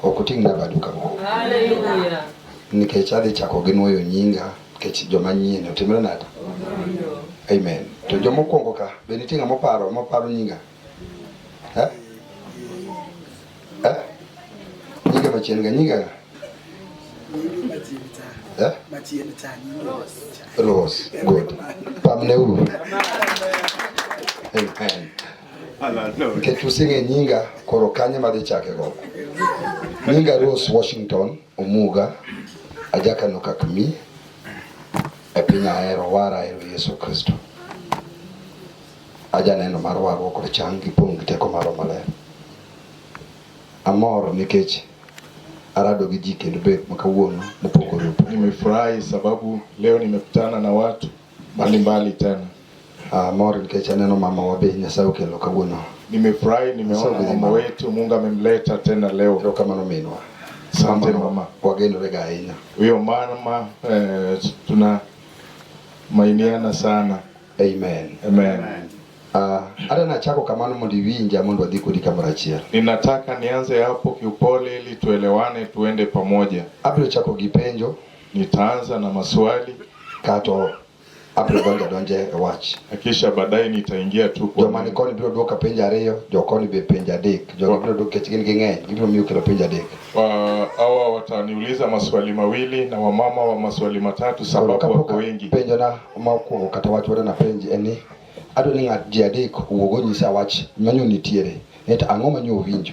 Ok utimna badu kawuono. Haleluya. Nikech adhi chako gi nuoyo nyinga nikech joma nyien otimre nade? Amen. To joma okuongo ka be nitie ng'ama oparo moparo nyinga? Eh? Eh? Nyinga machien ga nyinga ga? Eh? Machien cha. Rose. Good. Pamneuru. Amen. nikech using'e nyinga koro kanye madhi chake go nyinga Rose Washington Omuga ajakano kakmi e piny ahero wara ahero Yesu Kristo ajaneno mar warruok kod chang gi pong' gi teko maro maler amor nikech arado gi ji kendo bet makawuono mopogore opogore. Nimefurahi sababu leo nimekutana na watu mbali mbali tena. Uh, mor nikech aneno mama wa be Nyasaye okelo kawuono. Nimefurahi nimeona mama wetu Mungu amemleta tena leo. Ndio kama nominwa. Asante mama. Wagenore ga ahinya. Huyo mama eh, tuna mainiana sana. Amen. Amen. Amen. Uh, hata nachako kamano mondo iwinja mondo wadhi kodi kamoro achiel. Ninataka nianze hapo kiupole ili tuelewane tuende pamoja. Abiro chako gi penjo. Nitaanza na maswali kato abiro donjo donje e wach kisha baadaye nitaingia tu kwa joma ni koni biro duoka penj ariyo jo koni be penj adek jo biro duoka kech gin ging'eny gibiro miyo kelo penj adek hawa wataniuliza maswali mawili na wamama wa maswali matatu sababu wako wengi penjo na makwongo kata wach wadana penj en ni adwa ni ng'at ji adek owuog onyisa wach manyo nitiere et ang'o manyo owinjo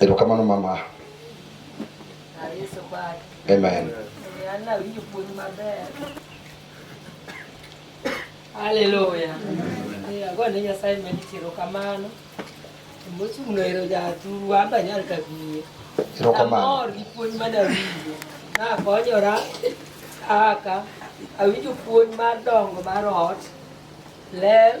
Erokamano mama. Amen. Haleluya. Agone Nyasaye mendi tero kamano. Mochung' no ero jaturu wamba nyal kabiye. Ero kamano. Amor gi puonj mane awinjo. Nakonyora kaka awinjo puonj mar dongo mar ot, ler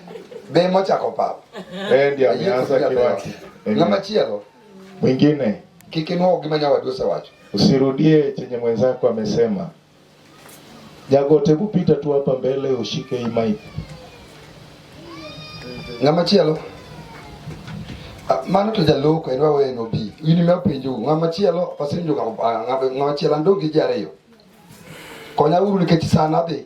Be mochako pap. Eh ndio ameanza kiwaki. Ng'ama chielo. Mwingine. Kikinwa gima nyawadu osewacho. Usirudie chenye mwenzako amesema. Jagote kupita tu hapa mbele ushike hii mic. Ng'ama chielo. Ah, mano to jaloko en wawe no bi. Ini me penjo ng'ama chielo pasinjo ah, ng'ama chielo ndogi jariyo. Konya uru nikech sana be.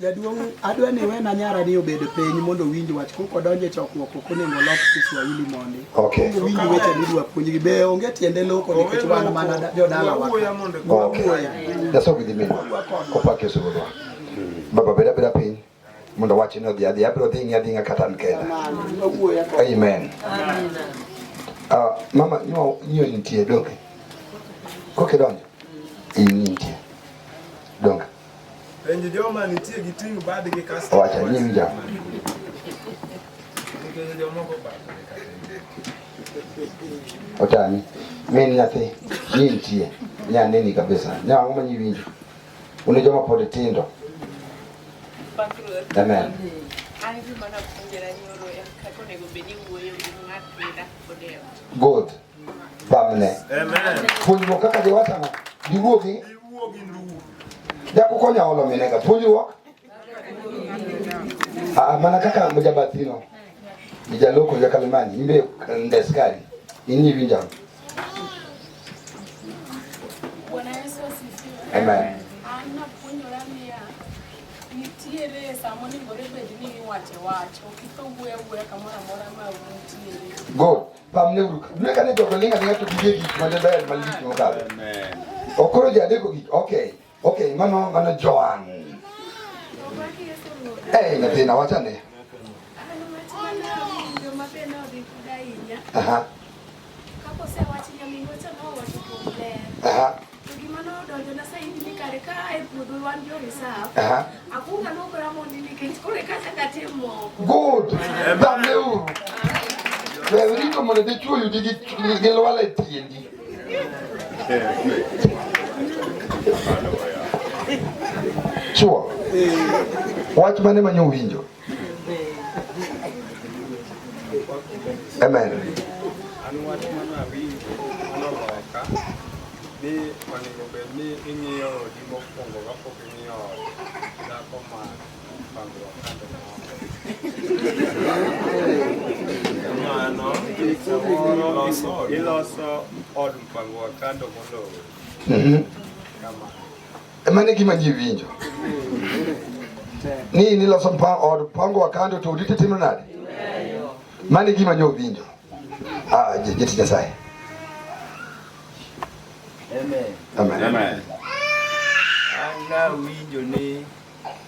Jaduong' adwa ni wena nyara ni obed piny mondo owinj wach kok odonjo e chokruok ok onego olok Kiswahili mondi. Okay. Owinj weche midwa puonjgi be onge tiende loko nikech wan mana jodala wa. Okay. Nyasaye ogidhi mino. Opak Yesu Ruodhwa. Baba beda beda piny mondo wachni odhi adhi abiro dhi ng'i adhing'a kata an kenda. Amen. Uh, mama nyo nyo nitie donge. Kokidonjo. Iyi nitie. Donge. Penj joma nitie gi ting' badgi kasto. Wacha nying ja. Otani. Min nyathi. Nying tie. Nya nini kabisa. Nya ang'o manyi winjo. Une joma pod tindo. Amen. Good. bamne puonjruok kaka jowatano giwuogi jakukonya olo minega puonjruok ah, mana kaka mujabathino ijaloko jakalimani imbe ndeskari inyi vinjano Amen. nitiere sama onengore bed ni iwache wacho kik owuoya wuoya kamoro amora ma untiere pamne uru dwe kane jogo linga linga to gige gik ma ber ma lich mokalo okoro ji adeko gik okay okay mano mano Joan eh nyathina wachane Aha. Kapo se wach nyaminwa cha no wacho kuom ler. Aha. Good. Dhameuru. Berito mondo idhi chwo yudi gi lwala e tiendi. Chwo. Wach mane manyo winjo? Amen. ni onego bed ni ing'iyo odi mokwongo kapok ing'iyo ot dhako ma pangruok kande mano iloso od mpango wa kando moloyo mm-hmm. kama Emane gima ji winjo ni niloso mpango od mpango wa kando to udite timo nade? Mane gima nyo winjo. Ah, jeti Nyasaye. Amen. Amen. Amen. Ana winjo ni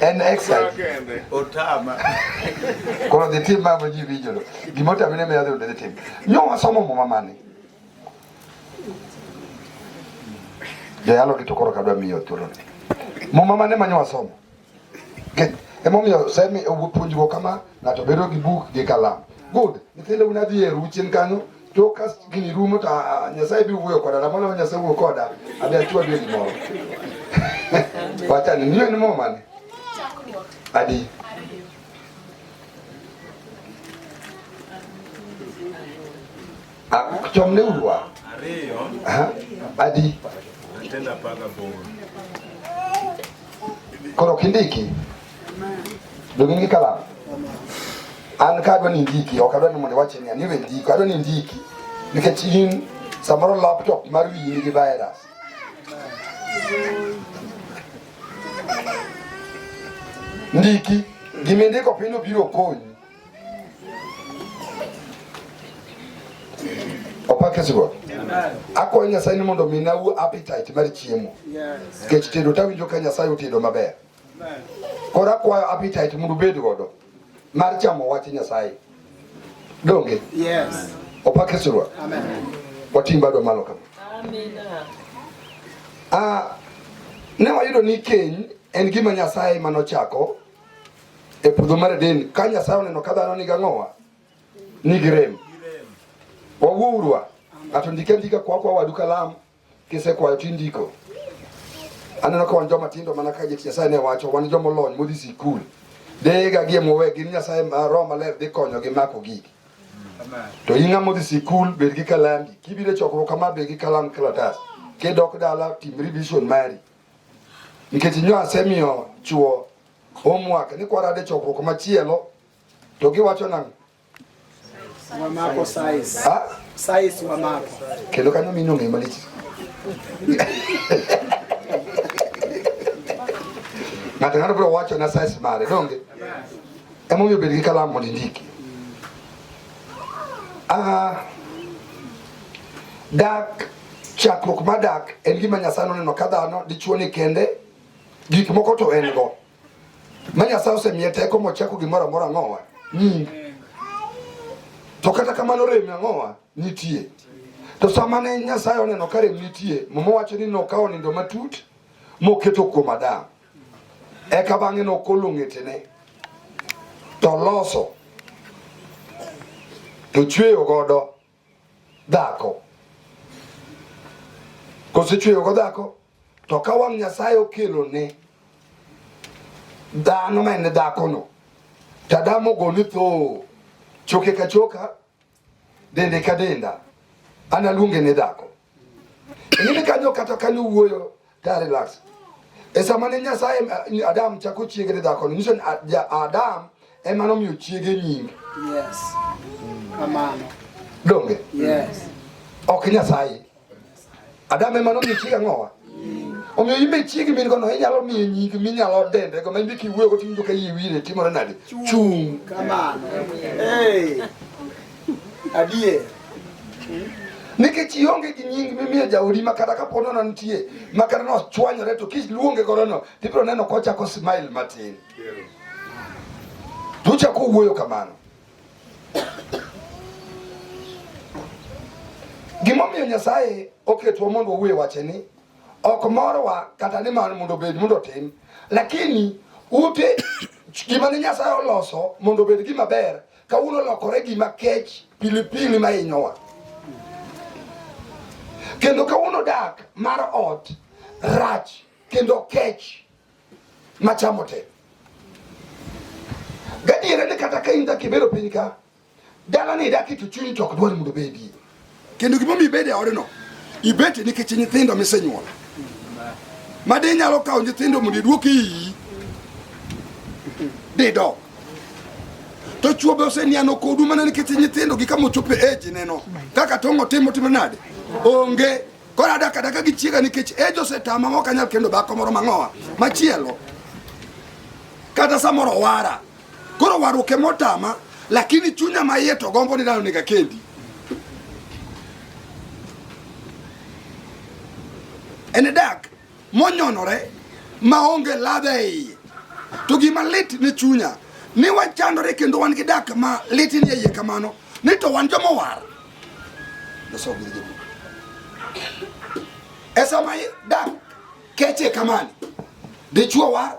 en exile otama koro dhi tim mamo ji winjo lo gima otami ne miyo dhi tim nyo wasomo muma mane joyalo gi to koro kadwa miyo thuolo ni muma mane manyo wasomo emomiyo semi puonjruok kama ng'ato bedo gi buk gi kalam good nyithindo unadhi e ruchien kanyo to ka gini rumo to ah, nyasaye bi wuoyo koda na mano nyasaye wuoyo koda abi achwa bi moro wacha ni niyo ni mama ni adi chom ne urwa ariyo adi tena paga bor koro kindiki Dogingi kala. An ka adwa ni ndiki, ok adwa ni mondo iwache ni aniwe ndiko, adwa ni ndiki. Nikech in samoro laptop mar wiyi nigi virus. Ndiki, gimindiko piny obiro konyi. Opakisigo. Akwayo Nyasaye ni mondo ominawu appetite mar chiemo. Nikech tedo tawinjo ka Nyasaye otedo maber. Koro akwayo appetite mondo ubed godo mar chamo wach Nyasaye. Donge? Yes. Opak Yesu Ruoth. Amen. Watim bado malo kama. Amina. Ah, ne wayudo ni keny en gima Nyasaye mane ochako e puodho mar Eden. Ka Nyasaye oneno ka dhano nigi ang'owa, nigi rem. Wawuo urwa. Ng'ato ndike ndika kwa kwa wadu kalamu. Kisekwayo tindiko. Aneno ka wan joma tindo mana ka jeti Nyasaye ne wacho, wan joma olony modhi sikul. Dega gie mowe gin Nyasaye ma Roho Maler dhi konyo gi mako gigi. To in ng'ama odhi sikul bed gi kalambi. Kibiro e chokruok kama bed gi kalam kalatas. Kidok dala tim revision mari. Nikech nyo asemiyo chuo homework ni kwarade chokruok machielo to giwacho nang'o? Wamako size. Ah? Size wamako. Kelo kanyo mino ngema lichi. Ng'ato ng'ato biro wacho na size mare, donge? Emomiyo bed gi kalam mondo indiki. Ah, dak chakruok mar dak en gima Nyasaye noneno ka dhano dichwo ni kende gik moko to en go Manya sause miye teko mochako gimoro amora ng'owa. Mm. To kata kamano rem ang'owa nitie. To sama ne Nyasaye oneno ka rem nitie, Muma wacho ni nokawo nindo matut moketo kuom Adam. Eka bang'e nokolo ng'etene to loso to chweyo godo dhako kosechweyogo dhako to ka wang' nyasaye okelo ne dhano ma en dhakono to adamo ogoni tho choke ka choka dende ka denda analuonge ne dhako in ka jo kata ka luwuoyo ta relax e sama ne nyasaye eh, adam chako chiege ne dhakono nyiso ni adam ema nomiyo chiege nyinge yes. kamano donge yes. ok nyasaye adam ema nomiyo chiege ang'owa omiyo imbe chiegi min kono inyalo miye nying minyalo dende go maybe kiwuoyo go tiwinjo ka iye wire timore nade chung kamano hey. Adier. Nikech ionge gi nying mimiyo jaodi ma kata kapo nono nitie ma kata nochwanyore to kiluonge godono tibiro neno kochako smile matin. Tuchako wuoyo kamano. Gimomiyo Nyasaye oketwa mondo wawuoye wache ni ok morwa kata ni mar mondo obed mondo otim, lakini ute gima ne Nyasaye oloso mondo obed gima ber Kawuono olokore gima kech pilipili ma hinyowa, kendo kawuono dak mar ot rach kendo kech machamo te. Gadiera ni kata ka in dak ibero piny ka, dalani idake to chunyi to ok dwar mondo obedie. Kendo gima omiyo ibede odno, ibete nikech nyithindo misenyuolo. Madi nyalo kawo nyithindo mondo iduok iyi. Dido. To chuo be oseniano kodu mana nikech nyithindo gi kama ochopo e age neno. Kaka tongo timo timo nade? Onge. Kora daka daka gi chiega nikech age osetama ma ok anyal kendo dhako moro mang'owa. Machielo. Kata samoro wara. Koro waruke motama lakini chunya maiye to gombo ni dano nega kendi. En e dak monyonore maonge ladha e iye. To gima lit ni chunya ni wachandore kendo wan gi dak ma lit ni e iye kamano ni to wan joma war. Esa mai dak keche kamani. Dichwo war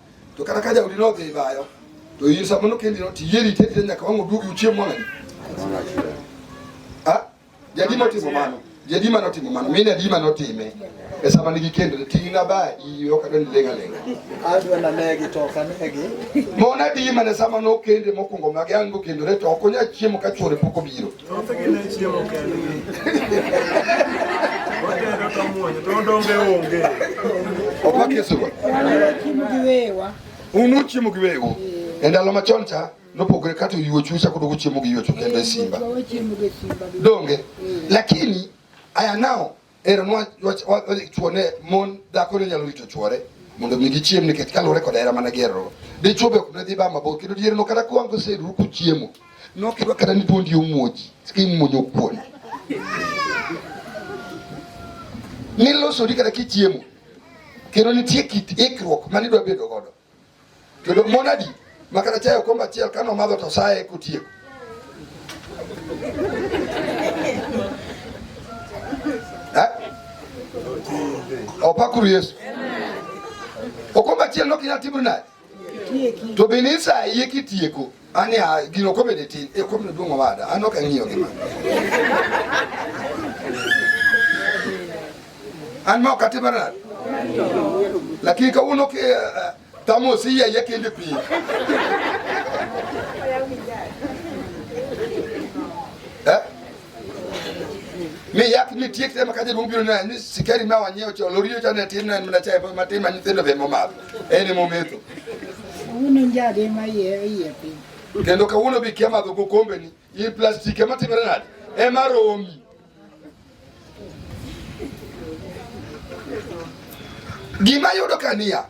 to kata ka jaodi nodhi bayo to in sama nokendi no tiyieri itedire nyaka wang' oduogi uchiem wang'adi ah, jadi notimo mano jadi mano timo mano min adi mano otime e sama nigi kendore ting'na ba iyo kata ni lenga lenga mon adi mane sama nokende mokwongo mage an gokendore to ok onya chiemo ka chwore pok obiro Thothgi ne chiemo kendgi. Otedo ka muonyo to odonge onge. Opak Yesu go. Unu chiemo gi wewu. E ndalo machon cha nopogore kata oyuochu chako dogo chiemo gi yuochu kendo e simba. Donge? Lakini aya nao Ero nwa chuone mon dhako ne nyalo rito chuore mondo mi gichiem nikech kaluwore kod hera mana gero. Dichuo be ok ne dhi ba mabor kendo dier no kata kwang koseru ku chiemo. No kidwa kata ni duondi omuoji, skin muonyo kuon. Nilosori kata kichiemo. Kendo nitie kit ikruok ma nidwa bedo godo. kendo monadi makata chayo komba achiel kane omadho to saye kotieko eh? opakuru yesu okomba achiel nokinyal timri naye to be ni isaye kitieko Ani a ah, gino komede tin e komno duong' owada an ok ang'iyo gi mano. An ma ok atimo nade? Lakini kawuono ke eh, eh, tamo osiya ya kende pi. Eh? mi yak ni tiek tema kaje dum biro na ni sikari ma wanyewo cho lorio cha ne tin na mna cha pa matin ma nyithindo be momadho ene mometho uno njade ma ye ye pi kendo kawuono bi kia madho gokombe ni i plastic ema timre nade ema romi gima yudo kania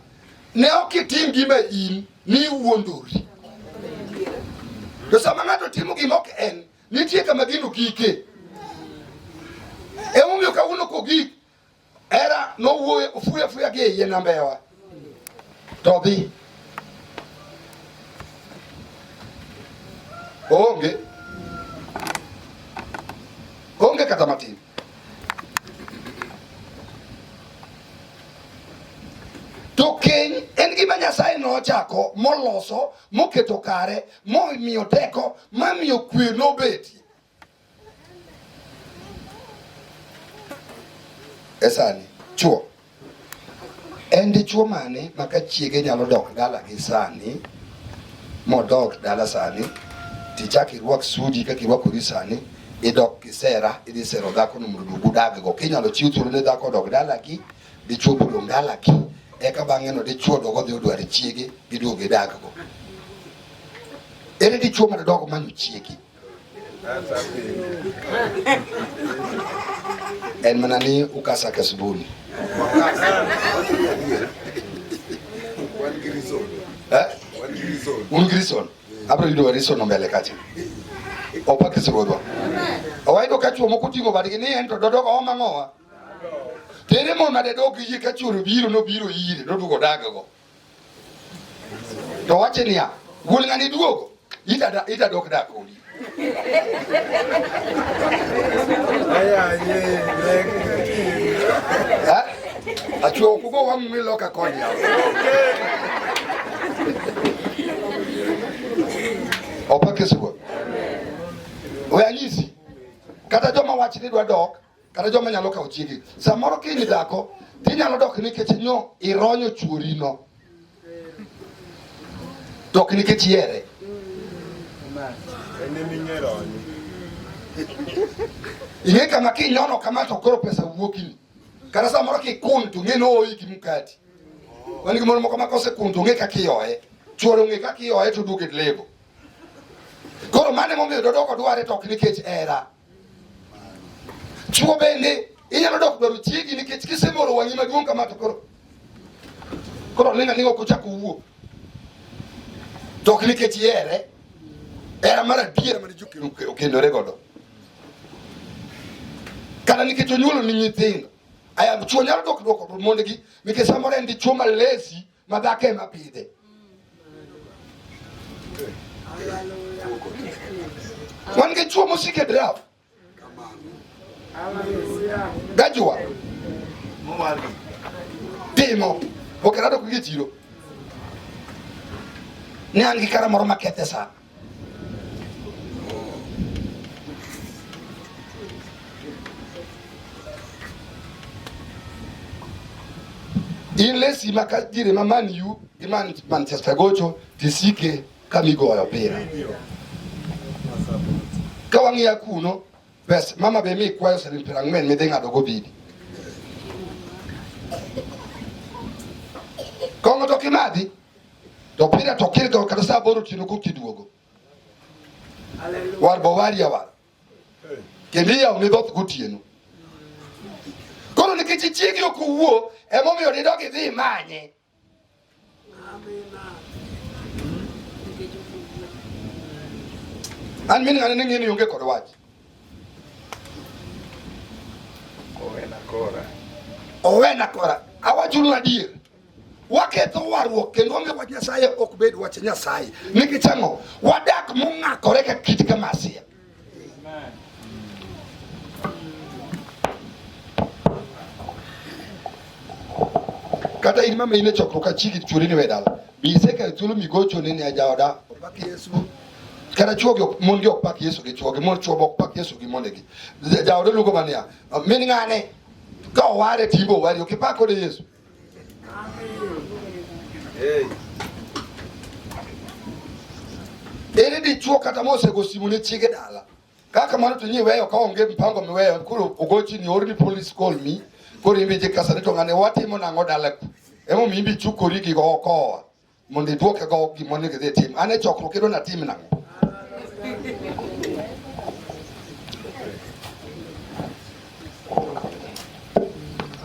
ne ok itim gima in ni wuondori to sama ng'ato timo gima ok en Nitie kama gino gike. Emomiyo kawuono kogik era nowuoyo ofuyo afuya gi eiye nambewa to dhi onge onge kata matin to keny en gima nyasaye nochako moloso moketo kare momiyo teko mamiyo kwe nobetie esani chuo en dichuo mane ma ka chiege nyalo dok dala gi sani modok dala sani tichak irwak sudi kaka irwakori sani idok kisera idhi sero dhakono mondo duogu daggo kinyalo chiw thuolo ne dhako odok dalagi dichwo bolo ndalaki eka bang'e no dichwo dogo dhi odwar chiege giduog gidakgo ere dichwo ma dodogo manyo chiegi en mana ni ukasa kasbuni eh? un grison abro yudo warison ombele kacha opakisruodwa owayudo ka chwo moko oting'o badgi ni en to dodogo omang'owa Tere mon mane dok yie ka chwore biro nobiro ire noduogo daggo. To wache niya, wuon ng'ani duogo, ita ita dok dak kodi. Achwo kugo wang' mi loka koni yaw. Opake sigo. Oya nyisi. Kata joma wach ni dwa dok kata joma nyalo kawo chiege. Samoro kiny dhako tinyalo dok nikech nyo ironyo chuorino, dok nikech ihere. Ing'e kama kinyono kama to koro pesa wuokini, kata samoro kikun to ng'e nooyi gi mkati. Wan gi mon moko ma kosekun to ong'e kaka iyoye, chuor ong'e kaka iyoye to duogo e lebo. Koro mano emomiyo dodoko dware to ok nikech hera. Chuo bende inyalo dok dwaro chiegi nikech kisemoro wang'i maduong' kama to koro koro ling' aling' ok ochak owuo to ok nikech ihere era mar adiera mane ji okendore godo kata nikech onyuolo ni nyithindo aya chuo nyalo dok dwoko mondegi nikech samoro en dichuo malesi madhako ema pidhe. Wan gi chuo mosik e draft gajua timo okerado kuge chiro ne an gi kara moro makethe sana inless imakajire mamani yu imani manchester gocho tisike kamigoyo opira ka wang'iya kuno bes mama be mi kwayo siling piero ang'wen midhi ng'ado go bidi kong'o to kimadhi Topira tokir ga kada sa boru tinu kukti duogo. War bawari ya war. Kendi ya uni dot kuti yenu. Koro ni kichi chiegi oku uo, emo mi odi dogi dhi manye. An mini ngane nengi ni yunge kore waji. Owe na kora. Owe na kora. Awa julu na diye. waketho warruok kendo onge wach Nyasaye ok bed wach Nyasaye nikech ang'o wadak mong'akore ka kit ka masia kata in mama in e chokruok achiki churi ni we dala be isekayo thuolo migocho ni ni ajaoda opak Yesu kata chuo gi mon gi ok pak Yesu gi chuo gi mon chuo ok pak Yesu gi mondegi jaoda luongo mania min ng'ane ka oware timbe owari ok ipak kode Yesu Ere di chuo kata mose go simu ne chiege dala. Kaka mano to nyi weyo ka onge mpango miweyo kuro ugochi ni orni police call me. Koro imbe je kasa ni to ngane watimo nango dala ku. Emo mimbi chukori gi go okowa. mondo idwoke go gima onego idhi tim. An e chokruok idwa natim nang'o?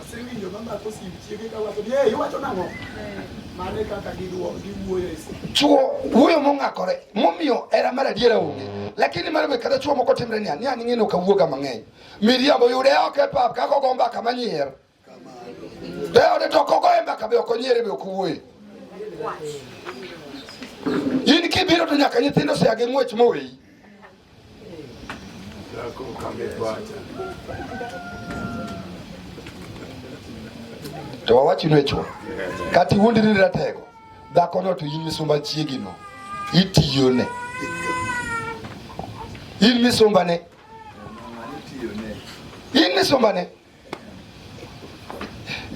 Asewinjo mama kosib chiege ka wacho ni eh iwacho nang'o? Mano e kaka giduo giwuoyo e simu. Chuo wuoyo mong'akore momiyo era mar adiera onge. Lakini mano be kata chuo moko timre niya, niya ning'e ni ok awuoga mang'eny. Miriambo yude oko e pap kaka ogomba kama nyier. Leo netokokoemba kabe okonyere be okuwuoye in kibiro to nyaka nyithindo sia gi ng'wech moweyi to wawachinu echuo kata iwuondri ni ratego dhakono to in misumba chiegino itiyone in misumbane in misumbane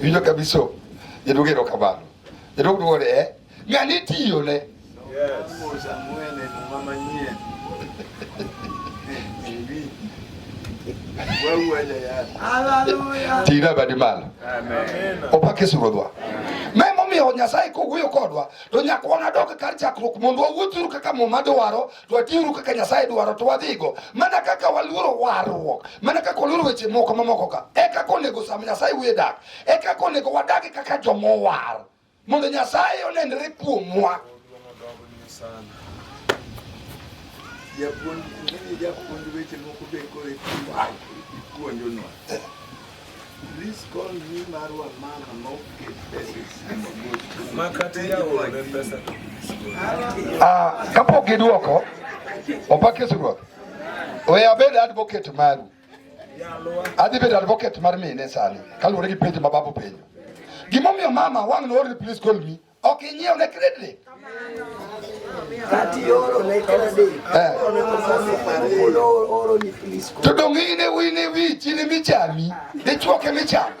Iwinjo kabisa jadwog erokamano. Jadwog dwoko ni eh, ng'ani itiyone. Ting'na badi malo. Opak Yesu Ruodhwa. Ma emomiyo Nyasaye kowuoyo kodwa to nyaka wanadog kar chakruok mondo wawuothuru kaka Muma dwaro to atiuru kaka Nyasaye dwaro to wadhigo mana kaka waluoro warruok mana kaka waluoro weche moko mamoko ka e kaka onego sama Nyasaye wuye dak e kaka onego wadagi kaka jomowar mondo Nyasaye onenre kuomwa japuonj weche moko be kore puonjonwa Please call me Marwa Mama Moke Makati ya wole pesa. Ah, kapo kiduoko opake suruok. We abed advocate maru. Adhi bedo advocate mar mine sani kaluwore gi penjo ma babu penjo. Gimomiyo mama wang' no please call me Ok inyiew ne credit ni. Kati oro ne credit. Eh. Oro ni please. To dong ine wine wi chini michami. Ni chuoke michami.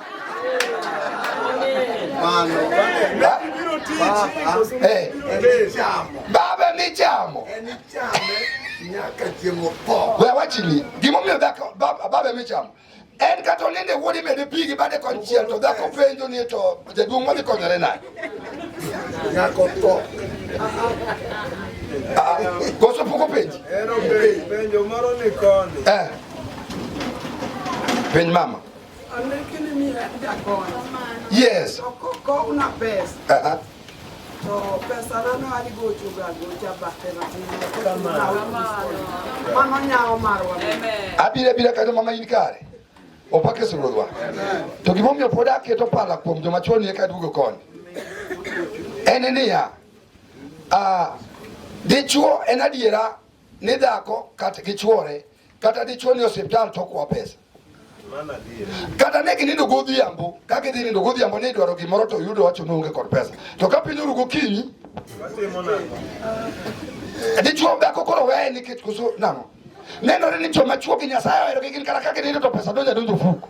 Mano. Eh. Baba michamo. Eh, michamo. Nyaka chiemo po. Wewe wachini. Gimomiyo dhako baba michamo. En kata olinde wuod imede pi gi bade konchiel to dhako penjo ni to jaduong' wadhi konyore nade? Nyako tho. Ah, koso pok openji? Penjo moro ni koni. Eh. Penj mama. Yes. Uh -huh. To pesana ne wadhi gochoga gocha bathe mano nyawo marwa abira bira kata mama in kare opake suruorwa to gimomiyo pod aketo pala kuom joma chon eka duogo koni en niya dichuo en adiera ni dhako kata gi chuore kata dichuo ni osiptal to okwa pesa kata ne ginindo godhiambo ka gidhi nindo godhiambo ni idwaro gimoro to yudo wacho ni onge kod pesa to ka piny oru gokinyi dichuo dhako koro weye nikech koso nang'o nenore ni joma chuo gi nyasaye oherogi gin kata ka ginindo to pesa donja donjo fuko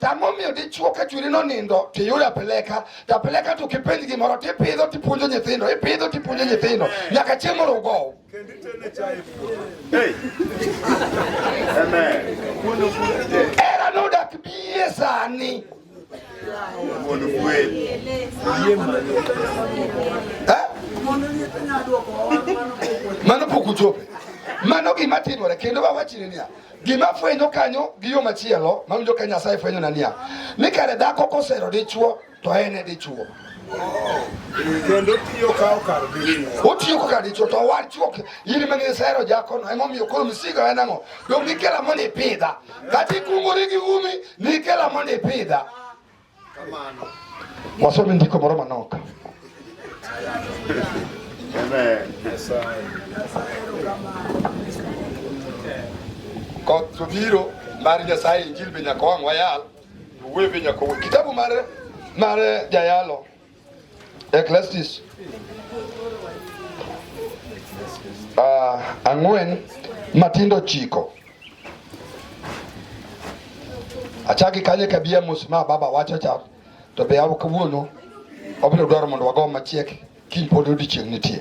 Tamomiyo dichuo ka chwiri nonindo tiyudo apeleka to apeleka to kipenj gimoro tipidho tipuonjo nyithindo ipidho tipuonjo nyithindo nyaka chieng' moro ugow. Era nodak bie sani mano pok uchope mano gima timore kendo wawachni niya gima fwenyo kanyo gi yo machielo mawinjo ka Nyasaye fwenyo na niya ni kare dhako kosero dichuo to en e dichuo kendo tiyo kawo kar otiyo ko kar dichuo to owar chuo in ma nisero jakono emomiyo koro misigo en ang'o dong nikela mondo ipidha kata ikungori gi umi nikela mondo ipidha Kamano. Wasomi ndiko moro manok. Amen. Koth obiro mar Nyasaye injil be nyaka wang' wayal, wuoyo be nyaka wuoyo. Kitabu mar mar jayalo Eklestis uh, ah, ang'wen matindo chiko achaki kanye kabia mos ma baba wacho cha to be awo kawuono obiro dwaro mondo wago machiek kiny pod odiechieng' nitie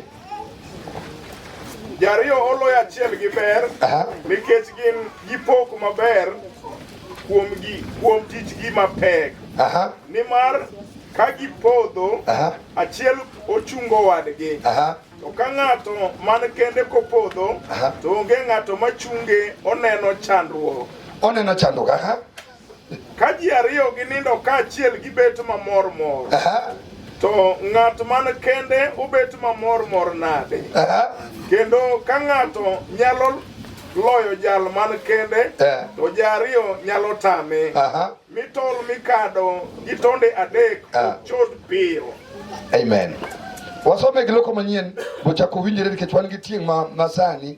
Jariyo oloyo achiel gi ber nikech gin gipok maber kuom gi kuom tijgi mapek. Nimar ka gipodho achiel ochungo wadgi. To ka ng'ato man kende kopodho to onge ng'ato machunge oneno chandruok. Oneno chandruok aha. Ka ji ariyo ginindo kaachiel gibet mamor mor. Aha. To ng'at man kende obet mamor mor nade? Aha. Kendo ka ng'ato nyalo loyo jal man kende, Eh. to ji ariyo nyalo tame. Aha. Mi tol mikado gi tonde adek Ah. ok chot piyo. Amen. Wasome gi loko manyien bochako winjore nikech wan gi tieng' ma, ma sani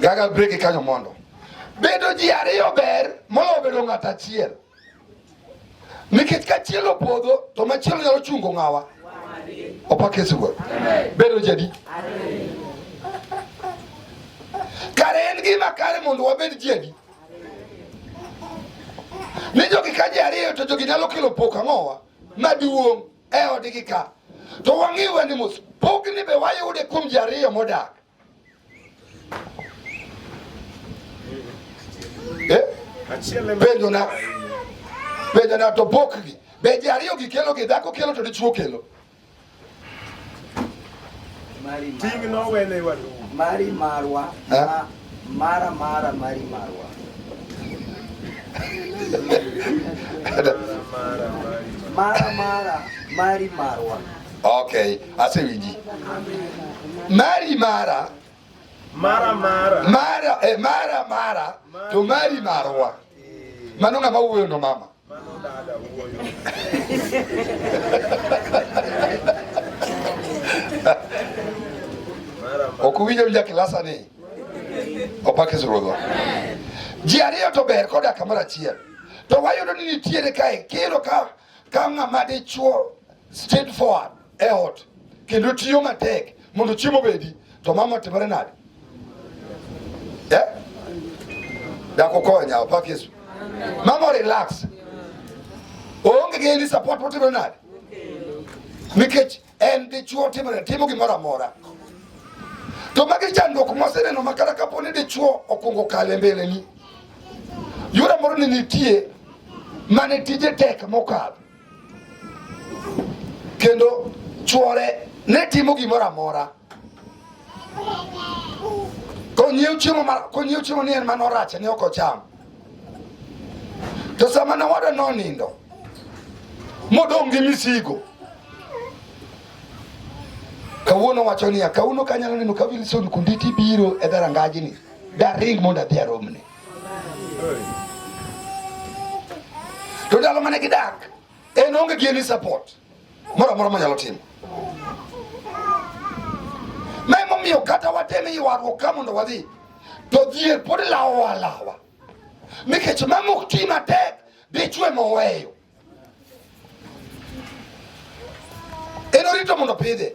Gaga break e kanyo mondo. Bedo ji ariyo ber moloyo bedo ng'at achiel. Nikech ka achiel opodho to machielo nyalo chungo ng'awa. Opak Yesu Wuoro. Bedo ji adi? Kare en gima kare mondo wabed ji adi? Ni jogi ka ji ariyo to jogi nyalo kelo pok ang'owa maduong'. e odgi ka to wang'i weni mos pogni be wayude kuom ji ariyo modak eh? penjona penjona to pokgi be ji ariyo gi kelo gi dhako kelo to dichuo kelo ting' nowenewa mari marwa eh? Mara mara mari marwa. Mara mara mari marwa. Okay, asewiji. Mari mara mara mara mara eh, mara mara to mari marwa. Mano ng'ama wuoyo no mama. Okuwinjo winja kilasa ni opake ruodhwa. Ji ariyo to ber koda kamoro achiel. To wayudo ni nitiere kae kiro ka ka ng'ama dichuo straight forward e ot kendo tiyo matek mondo chiemo obedi, to mama otimore nade? Eh? Dakukonya opak Yesu. Mama relax. Oonge gi any support motimore nade? Nikech en dichuo timore timo gimoro amora. To magi chandruok moseneno ma kata kapo ni dichuo okungo kale mbeleni. Yura moro ni nitie mane tije tek mokalo kendo chuore ne timo gimoro amora konyiew chiemo konyiew chiemo ni en mano rach ne ok ocham to sama ne wada nonindo modong' gi misigo kawuono wacho niya kawuono kanyalo neno ka Wilson Kunditi biro e dharangaji ni daring mondo adhi aromne to ndalo mane gidak en onge gi any support moro amora manyalo timo ma emomiyo kata wateme ywaruok ka mondo wadhi to dhier pod lawowa lawa nikech mamok ti matek dichwe moweyo Ero rito mondo pidhe.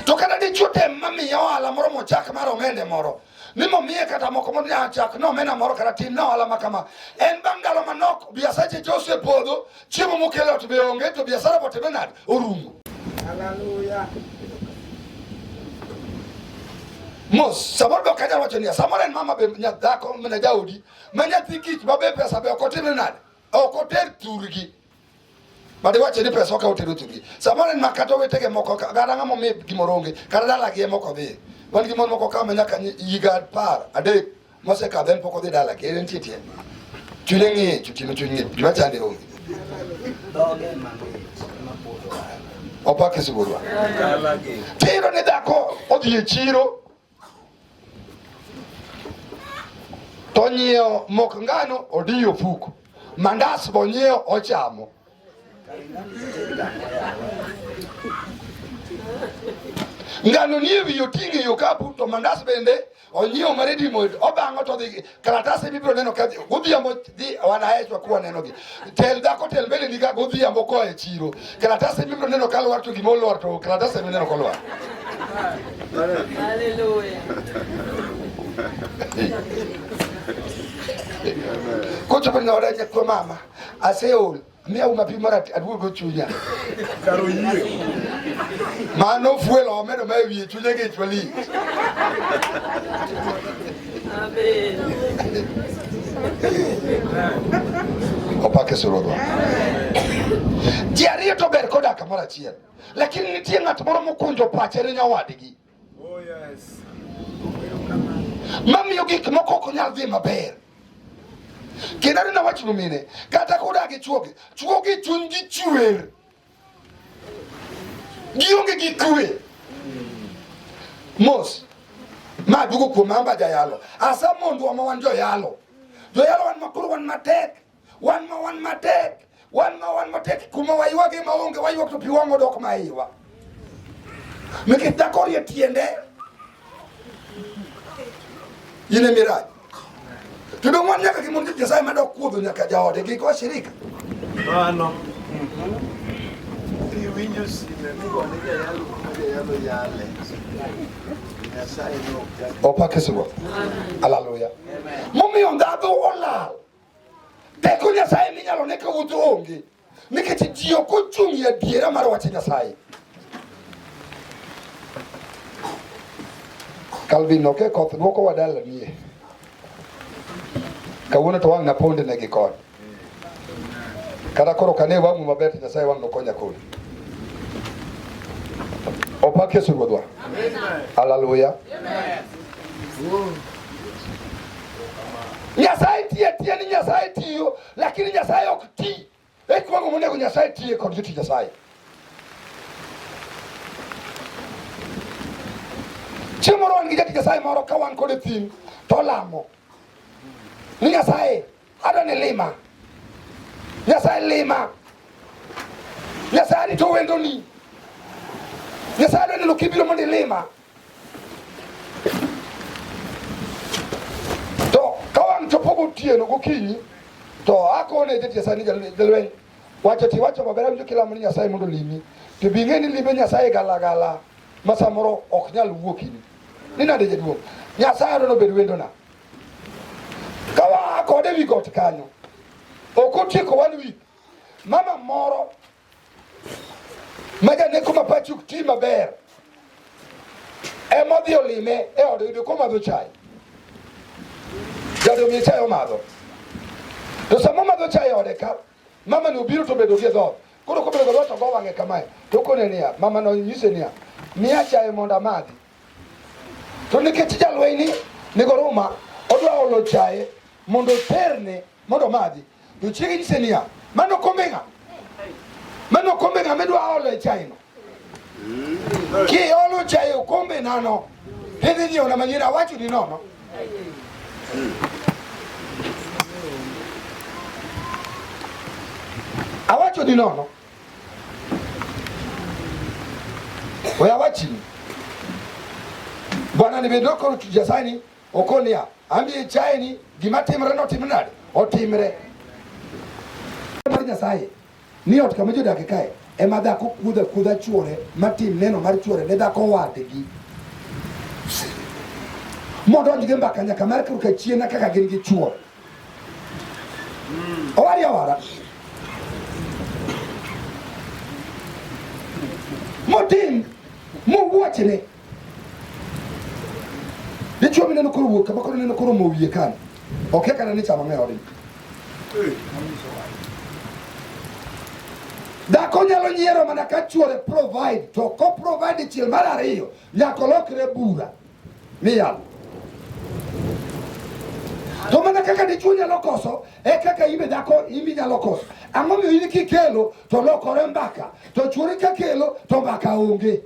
To kata dichuo tem mamiye ohala moro mochak mar omende moro ni momiye kata moko mondo achak ni omena moro kata tin na ohala makama en bang' ndalo manok biasache te ose podho chiemo mokelo ot be onge to biasara bote be nade orumo haleluya mos samoro be ok anyal wacho niya samoro en mama be nyadhako mana jaodi ma nyathi kich ma be pesa be ok otime nade Ok oter thurgi. Bade wache ni pesa okawo tero thurgi. Samoro en makato wetege moko kata ng'ama omiye gimoro onge kata dalagi ema ok odhi. Wan gi mon moko ka ma nyaka higa apar adek mosekadho en pok odhi dalagi en nitie tiende. Chunye ng'ich otieno chuny ng'ich gima chande onge. Opake sibuorwa. Tero ne dhako odhi e chiro Onyiewo mok ngano odiyo fuko, mandas bonyiewo ochamo. Ngano nie wiye oting'o e okapu to mandas bende onyiewo mar dimo obang'o to odhi kalatase bibiro neno ka godhiambo dhi wan ahechwa kuwa nenogi tel dhako tel bende niga godhiambo koa e chiro kalatase bibiro neno ka lwar to gima olwar to kalatase bibiro neno kolwar Hallelujah. Kucho penga wadaje kwa mama aseol miya uma pi mara aduogo chunya kar oyie mano ofuelo omedo ma ewiye chunya gi chwali opake surodwa ji ariyo to ber kodak kamoro achiel lakini nitie ng'at moro mokunjo pache ne nyawadgi Oh yes. Mamiyo gik moko ok nyal dhi maber. Kendo aneno wach mine kata kodak gi chwogi, chwogi chuny gi chwer. Gionge gi kwe. Mos. Ma dugo kuom amba jayalo. Asa mondwa ma wan joyalo. Joyalo wan makuru wan matek. wan ma wan matek wan ma wan matek kuma waywage maonge waywak to pi wang' odok ma iwa nikech dhako orie tiende in e mirach to dong' wan nyaka gi mond tich nyasaye madok kuodho nyaka jaode gi kwa shirika mano iwinjo sime migone jayalo kuma jayalo yale opakisgo aleluya momiyo ndhadho olal Teko Nyasaye minyalo ne ka wuotho onge nikech ji ok ochung' e adiera mar wach Nyasaye. Calvin oke koth dwoko wadala nie kawuono to wang' naponde ne gi kod kata koro kane wang'u maber to Nyasaye wang' nokonya kodi opak Yesu Ruodhwa. Haleluya. Nyasaye tiye tiye ni Nyasaye tiyo lakini Nyasaye ok ti. E kwago monego Nyasaye tiye kod joti Nyasaye. Chieng' moro wan gi jati Nyasaye moro ka wan kode thim to lamo ni Nyasaye adwa ni lima Nyasaye lima Nyasaye ni to wendoni Nyasaye adwa neno kibiro mondo ilima To ka wang' chopo gotieno gokinyi to akone jati Nyasaye ni jalweny wacho ti wacho maber awinjo kilamo ni Nyasaye mondo limi to bi ng'e ni lime Nyasaye galagala ma samoro ok nyal wuokini ni nade jaduong' Nyasaye no nobed wendona ka waa kode wi got kanyo ok otieko one week mama moro Maja ne kuma Patrick ti maber ema odhi olime e ode yudo komadho chai jado miye chai omadho to sama omadho chai e ode ka mama ni obiro to bedo gi dhoth koro kobedo gi dhoth to go wang'e kamae to kone niya mama no nyise niya miya chai mondo amadhi to nikech jalweny ni nigo ruma odwa olo chai mondo oterne Mondo madhi. To chiege nyise niya, mano kombeng'a. Mano kombeng'a midwa olo e chai no. Kiolo chai okombe nano. Hidhi nyiewo na manyien awacho ni nono. Awacho ni nono. Oya wachini. Bwana nimedoko tujasani Okol niya, an be ichaye ni gima timre notim nade? Otimre. Mar Nyasaye ni ot kama jodake kae ema dhako kudha kudha chuore matim neno mar chuore ne dhako wadgi modonj gi mbaka nyaka mar kruka chiena kaka gin gi chuo hmm. owari awara motim mowuochne dichuo mineno koro wuok kama koro neno koro mo wiye kani okia kana ni chama ng'eyo odin dhako nyalo nyiero mana ka chuore provide to ko provide chiel mar ariyo nyaka olokre bura miyalo to mana kaka dichuo nyalo koso e kaka ibe dhako imi nyalo koso ang'o miyo in kikelo to lokore mbaka to chuore kakelo to mbaka onge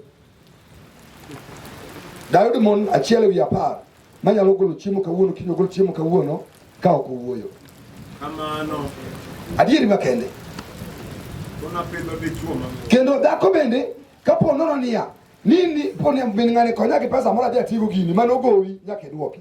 Daudi mon achiel ewi apar manyalo golo chiemo kawuono kiny ogol chiemo kawuono ka ok owuoyo. Kamano. Adieri makende. Kendo dhako bende kapo nono niya ni ni po ni min ng'ani konya gi pesa moro adhi atigo gini mano gowi nyaka idwoki.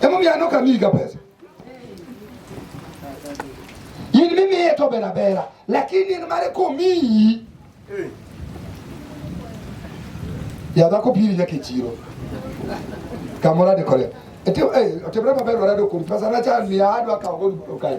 Hebu mianoka miga pesa. Yin mimi yeto bela bela. Lakini ni mare komi. Ya da ko pili yake chiro. Kamora de kole. Ete eh otebra mabelo rado kumpasa na cha ni adwa ka ogolu kai.